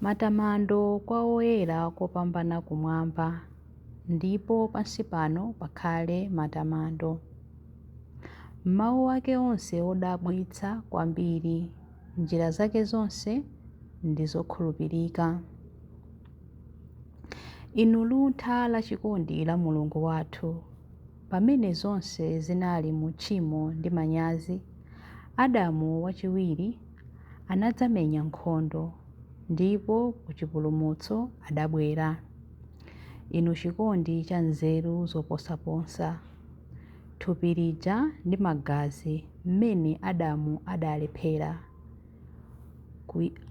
Matamando kwa Woyera kopambana kumwamba, ndipo pansi pano pakhale matamando. M'mawu ake onse odabwitsa kwambiri, njira zake zonse ndi zokhulupirika. Inu luntha la chikondi la Mulungu wathu, pamene zonse zinali mu tchimo ndi manyazi, Adamu wachiwiri anadzamenya nkhondo, ndipo ku chipulumutso adabwera. Inu chikondi cha nzeru zoposaposa! Thupi lija ndi magazi mmene Adamu adalephera,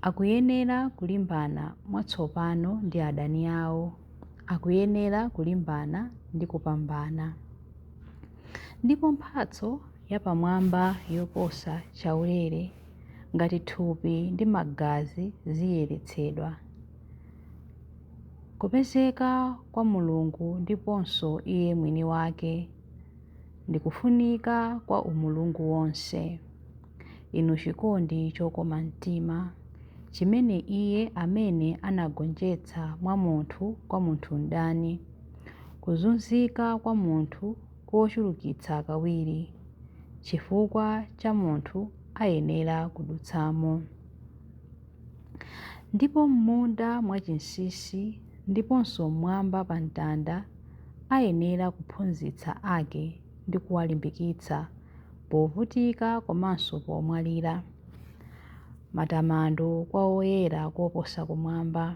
akuyenera kulimbana mwatsopano ndi adani awo, akuyenera kulimbana ndi kupambana. Ndipo mphatso yapamwamba yoposa chaulere ngati thupi ndi magazi ziyeretsedwa. Kupezeka kwa Mulungu ndiponso iye mwini wake ndi kufunika kwa umulungu wonse. Inu chikondi chokoma mtima chimene iye amene anagonjetsa mwa munthu kwa munthu mdani, kuzunzika kwa munthu kochulukitsa kawiri chifukwa cha munthu ayenera kudutsamo. Ndipo m'munda mwachinsinsi ndiponso m'mwamba pa mtanda ayenera kuphunzitsa ake ndi kuwalimbikitsa povutika komanso pomwalira. Matamando kwa Woyera Koposa Kumwamba.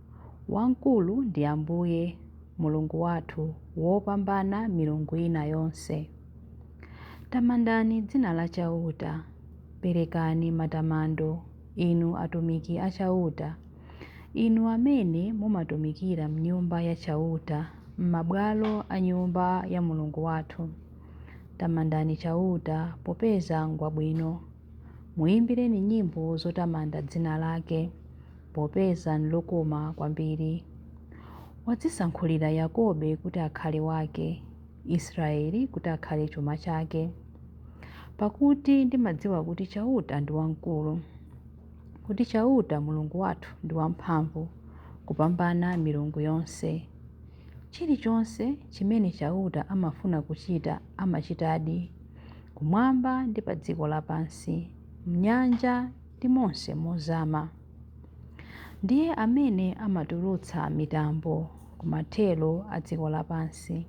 Wamkulu ndi Ambuye, Mulungu wathu, wopambana milungu ina yonse. Tamandani dzina la Chauta, perekani matamando, inu atumiki a Chauta, inu amene mumatumikira m'Nyumba ya Chauta, m'mabwalo a Nyumba ya Mulungu wathu. Tamandani Chauta, popeza ngwabwino. Muimbireni nyimbo zotamanda dzina lake, popeza nlokoma kwambiri. Wadzisankhulira Yakobe kuti akhale wake, Israyeli kuti akhale chuma chake. Pakuti ndimadziwa kuti Chauta ndi wamkulu, kuti Chauta, Mulungu wathu, ndi wamphamvu kupambana milungu yonse. Chilichonse chimene Chauta amafuna kuchita amachitadi, kumwamba ndi pa dziko lapansi, m'nyanja ndi monse mozama. Ndiye amene amatulutsa mitambo ku mathero a dziko lapansi,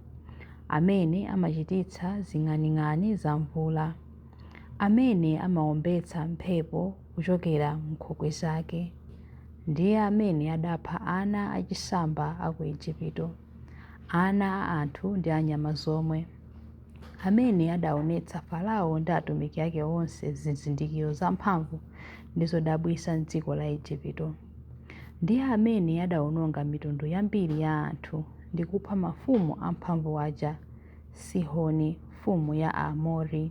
amene amachititsa zing'aning'ani za mvula, amene amaombetsa mphepo kuchokera m'nkhokwe zake. Ndiye amene adapha ana achisamba a ku Ejipito, ana a anthu ndi a nyama zomwe. Amene adaonetsa Farao ndi atumiki ake onse zizindikiro zamphamvu ndi zodabwitsa m'dziko la Ejipito. Ndiye amene adaononga mitundu yambiri ya anthu ndi kupha mafumu amphamvu aja, Sihoni mfumu ya Aamori,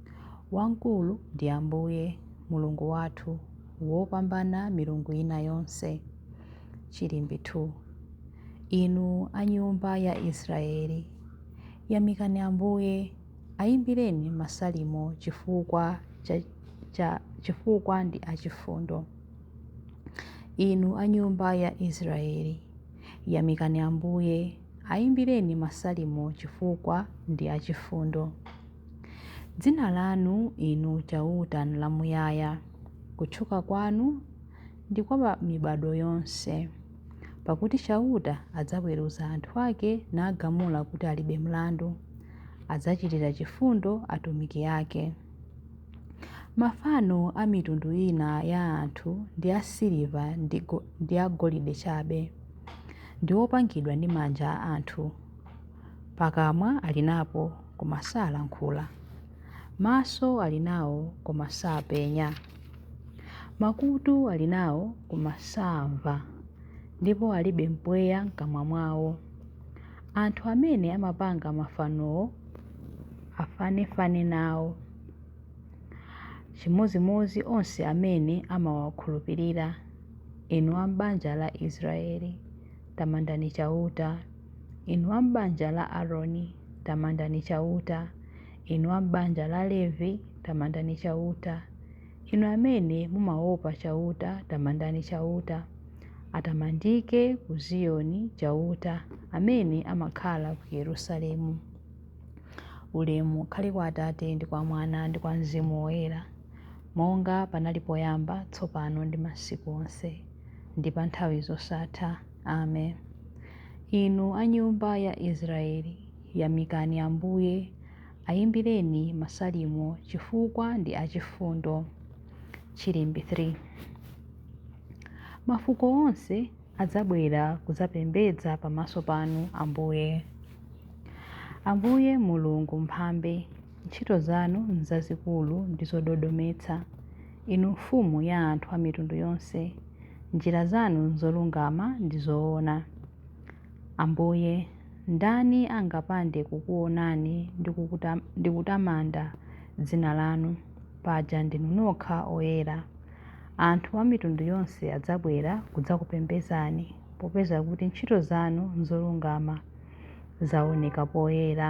Wamkulu ndi Ambuye, Mulungu wathu, wopambana milungu ina yonse. Chilimbi 2. Inu a nyumba ya Israeli, yamikani Ambuye, ayimbireni masalimo chifukwa ndi achifundo. Inu a nyumba ya Israeli, yamikani Ambuye, ayimbireni masalimo chifukwa ndi achifundo. Dzina lanu, Inu Chauta, nlamuyaya, kutchuka kwanu ndi kwa pa mibadwo yonse. Pakuti Chauta adzaweruza anthu ake nagamula kuti alibe mlandu, adzachitira chifundo atumiki ake. Mafano a mitundu ina ya anthu ndi a siliva ndi a golide chabe, ndi opangidwa ndi manja a anthu. Pakamwa ali napo, koma salankhula. Maso ali nawo, koma sapenya. Makutu ali nawo, koma saamva. Ndipo alibe mpweya m'kamwa mwawo. Anthu amene amapanga mafanowo afanefane nawo, chimodzimodzi onse amene amawakhulupirira. Inu a m'banja la Israeli, tamandani Chauta. Inu a m'banja la Aroni, tamandani Chauta. Inu a m'banja la Levi, tamandani Chauta. Inu amene mumaopa Chauta, tamandani Chauta. Atamandike ku Ziyoni Chauta, amene amakhala ku Yerusalemu. Ulemu ukhale kwa Atate ndi kwa Mwana ndi kwa Mzimu Woyera, monga panali poyamba, tsopano ndi masiku onse, ndi pa nthawi zosatha. Amen. Inu a nyumba ya Israeli, yamikani Ambuye, ayimbireni masalimo chifukwa ndi achifundo. Chilimbi 3 Mafuko onse adzabwera kudzapembedza pamaso panu Ambuye. Ambuye Mulungu mphambe, Ntchito zanu n'zazikulu ndi zododometsa, inu Mfumu ya anthu a mitundu yonse. Njira zanu n'zolungama ndi zoona. Ambuye, ndani angapande kukuonani ndi kutamanda dzina lanu? Paja ndinu nokha oyera. Anthu a mitundu yonse adzabwera kudzakupembedzani, popeza kuti ntchito zanu zolungama zaoneka poyera.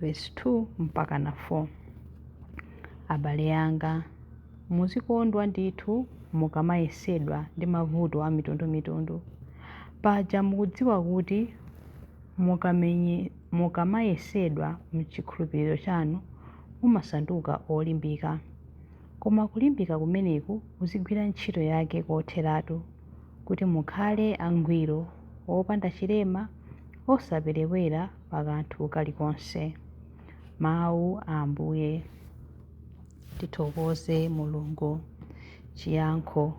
Vesi 2 mpaka na 4. Abale anga, muzikondwa ndithu mukamayesedwa ndi mavuto a mitundumitundu. Paja mukudziwa kuti mukamayesedwa m'chikhulupiriro chanu mumasanduka olimbika. Koma kulimbika kumeneku kuzigwira ntchito yake kotheratu, kuti mukhale angwiro, opanda chilema, osaperewera pa kanthu kalikonse. Mawu a Ambuye. Tithokoze Mulungu. Chiyankho.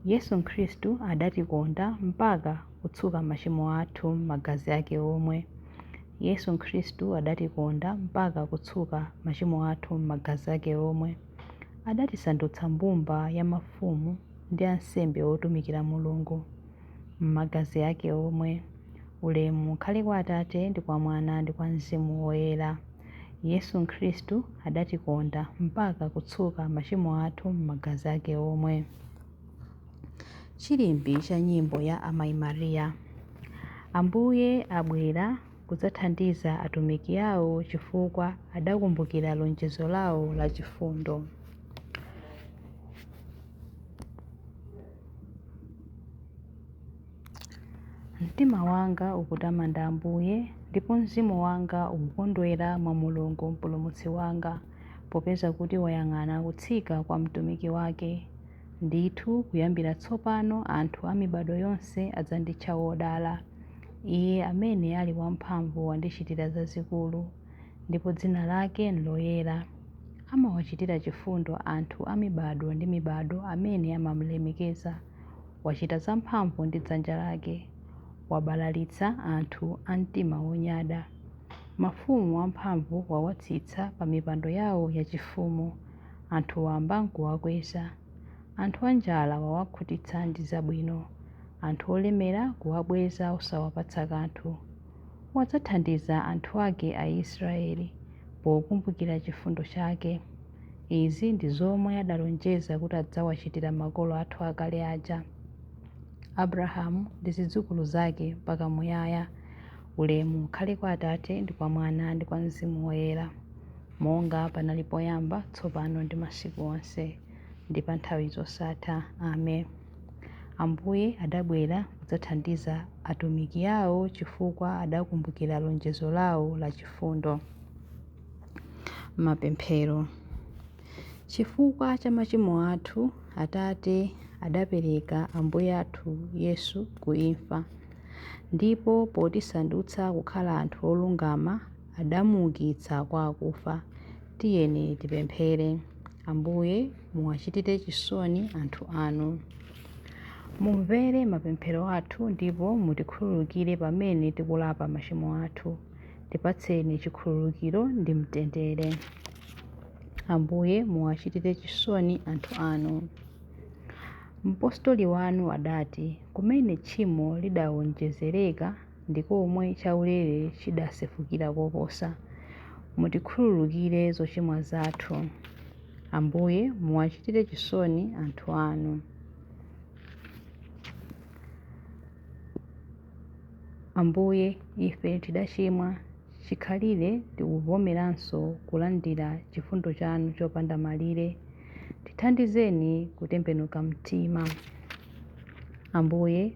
Yesu Khristu adatikonda mpaka kutsuka machimo athu m'magazi ake omwe. Yesu Khristu adatikonda mpaka kutsuka machimo athu m'magazi ake omwe. Adatisandutsa mbumba ya mafumu ndi ansembe otumikira Mulungu. m'magazi ake omwe. Ulemu ukhale kwa Atate ndi kwa Mwana ndi kwa Mzimu Woyera. Yesu Khristu adatikonda mpaka kutsuka machimo athu m'magazi ake omwe. Chilimbi cha nyimbo ya Amayi Maria. Ambuye abwera kudzathandiza atumiki awo chifukwa adakumbukira lonjezo lawo la chifundo. Mtima wanga ukutamanda Ambuye, ndipo mzimu wanga ukukondwera mwa Mulungu Mpulumutsi wanga, popeza kuti wayang'ana kutsika kwa mtumiki wake. Ndithu, kuyambira tsopano anthu a mibadwo yonse adzanditcha wodala. Iye amene ali wamphamvu wandichitira zazikulu. ndipo dzina lake n'loyera. Amawachitira chifundo anthu a mibadwo ndi mibadwo amene amamulemekeza. Wachita zamphamvu ndi dzanja lake. Wabalalitsa anthu a mtima wonyada. Mafumu amphamvu wawatsitsa pa mipando yawo yachifumu. Anthu wamba n'kuwakweza. Anthu anjala wawakhutitsa ndi zabwino. Anthu olemera kuwabweza osawapatsa kanthu. Wadzathandiza anthu ake Aisraeli, pokumbukira chifundo chake. Izi ndi zomwe adalonjeza kuti adzawachitira makolo athu akale aja, Abrahamu ndi zidzukulu zake mpaka muyaya. Ulemu ukhale kwa Atate, ndi kwa Mwana, ndi kwa Mzimu Woyera, monga panali poyamba, tsopano ndi masiku onse, ndi pa nthawi zosatha. Amen. Ambuye adabwera kudzathandiza atumiki awo chifukwa adakumbukira lonjezo lawo la chifundo. Mapemphero Chifukwa cha machimo athu, Atate adapereka Ambuye athu Yesu ku imfa, ndipo potisandutsa kukhala anthu olungama, adamuukitsa kwa akufa. Tiyeni tipemphere. Ambuye, muwachitire chisoni anthu anu. Mumvere mapemphero athu ndipo mutikhululukire pamene tikulapa machimo athu. Tipatseni chikhululukiro ndi mtendere. Ambuye, muwachitire chisoni anthu anu. Mpostoli wanu adati, kumene tchimo lidawonjezereka, ndi komwe chaulere chidasefukira koposa. Mutikhululukire zochimwa zathu. Ambuye, muwachitire chisoni anthu anu. Ambuye, ife tidachimwa chikhalire tikuvomeranso kulandira chifundo chanu chopanda malire. Tithandizeni kutembenuka mtima. Ambuye,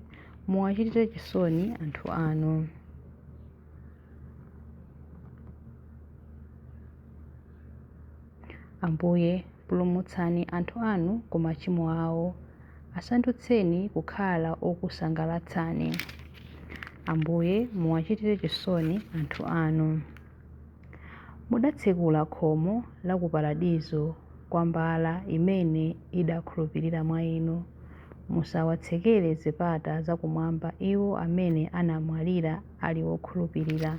Muwachitire chisoni anthu anu. Ambuye, pulumutsani anthu anu ku machimo awo, asandutseni kukhala okusangalatsani. Ambuye, muwachitire chisoni anthu anu. Mudatsekula khomo la ku Paradizo kwa mbala imene idakhulupirira mwa Inu. Musawatsekere zipata za kumwamba iwo amene anamwalira ali okhulupirira.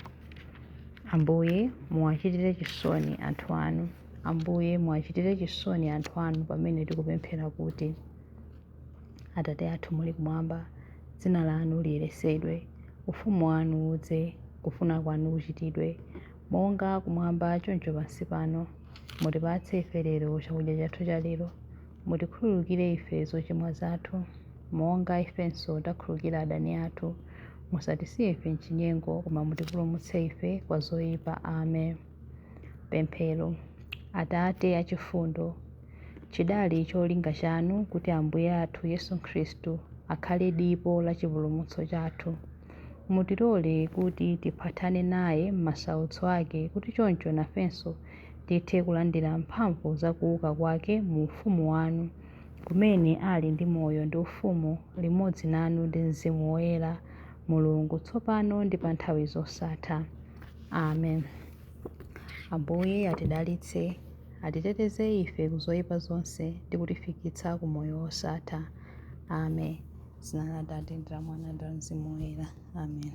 Ambuye, muwachitire chisoni anthu anu. Ambuye, muwachitire chisoni anthu anu pamene tikupemphera kuti. Atate athu muli kumwamba, dzina lanu liyeretsedwe, ufumu wanu udze, kufuna kwanu kuchitidwe, monga kumwamba choncho pansi pano. Mutipatse ife lero chakudya chathu cha lero. Mutikhululukire ife zochimwa zathu, monga ifenso takhululukira adani athu. Musatisiye ife m'chinyengo, koma mutipulumutse ife kwa zoyipa. Amen. Pemphero. Atate achifundo. Chidali cholinga chanu kuti Ambuye athu Yesu Khristu akhale dipo la chipulumutso chathu. Mutilole kuti tiphathane naye m'masautso ake kuti choncho nafenso tithe kulandira mphamvu za kuuka kwake mu ufumu wanu, kumene ali ndi moyo ndi ufumu limodzi nanu ndi Mzimu Woyera, Mulungu, tsopano ndi pa nthawi zosatha. Amen. Ambuye atidalitse. atiteteze ife ku zoyipa zonse ndi kutifikitsa ku moyo wosatha. Amen. Dzina la Atate ndi la Mwana ndi la Mzimu Woyera. Amen.